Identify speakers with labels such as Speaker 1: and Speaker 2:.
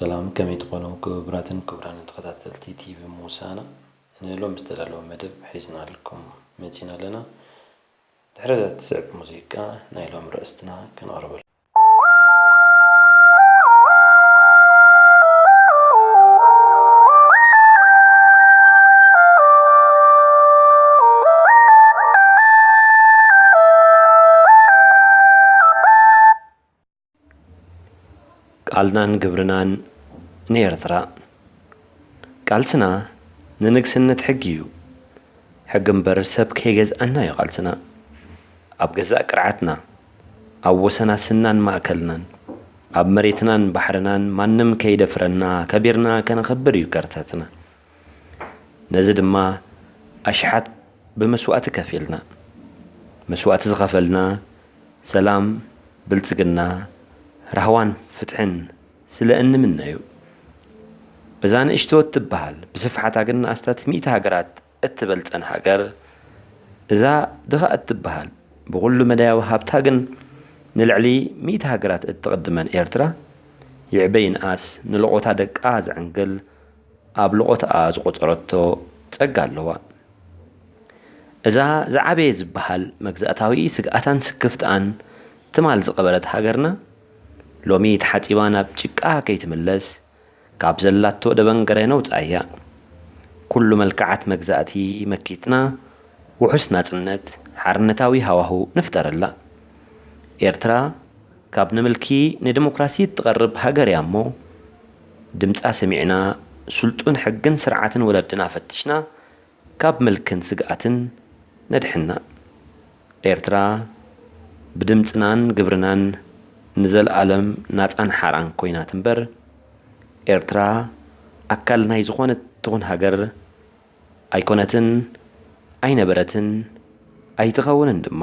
Speaker 1: ሰላም ከመይ ትኾኑ ክቡራትን ክቡራንን ተኸታተልቲ ቲቪ ሙሳና ንሎም ዝተዳለወ መደብ ሒዝናልኩም መፂና ኣለና ድሕሪ እዛ ትስዕብ ሙዚቃ ናይ ሎም ርእስትና ከነቕርበሉ ቃልናን ግብርናን ንኤርትራ ቃልስና ንንግስነት ሕጊ እዩ ሕጊ እምበር ሰብ ከይገዝኣና እዩ ቃልስና ኣብ ገዛእ ቅርዓትና ኣብ ወሰናስናን ማእከልናን፣ ኣብ መሬትናን ባሕርናን ማንም ከይደፍረና ከቢርና ከነኽብር እዩ ከርተትና። ነዚ ድማ ኣሽሓት ብመስዋእቲ ከፊልና። መስዋእቲ ዝኸፈልና ሰላም፣ ብልጽግና፣ ራህዋን ፍትሕን ስለ እንምነ'ዩ። እዛ ንእሽቶ እትበሃል ብስፍሓታ ግን ኣስታት ሚእቲ ሃገራት እትበልጸን ሃገር፣ እዛ ድኻ እትበሃል ብኹሉ መዳያዊ ሃብታ ግን ንልዕሊ ሚእቲ ሃገራት እትቕድመን ኤርትራ፣ ይዕበ ይንኣስ ንሎቖታ ደቃ ዘዕንግል ኣብ ሎቖታኣ ዝቖጸረቶ ጸጋ ኣለዋ። እዛ ዝዓበየ ዝበሃል መግዛእታዊ ስግኣታን ስክፍትኣን ትማል ዝቐበረት ሃገርና፣ ሎሚ ተሓጺባ ናብ ጭቃ ከይትምለስ፣ ካብ ዘላቶ ደበንገረ ነውጽኣያ። ኩሉ መልክዓት መግዛእቲ መኪትና ውሑስ ናጽነት ሓርነታዊ ሃዋሁ ንፍጠረላ። ኤርትራ ካብ ንምልኪ ንደሞክራሲ እትቐርብ ሃገርያሞ ድምጻ ሰሚዕና ስልጡን ሕግን ስርዓትን ወለድና ፈቲሽና ካብ ምልክን ስግኣትን ነድሕና። ኤርትራ ብድምጽናን ግብርናን ንዘልኣለም ናጻን ሓራን ኮይና ትንበር። ኤርትራ ኣካል ናይ ዝኾነት ትኹን ሃገር ኣይኮነትን፣ ኣይነበረትን፣ ኣይትኸውንን ድማ።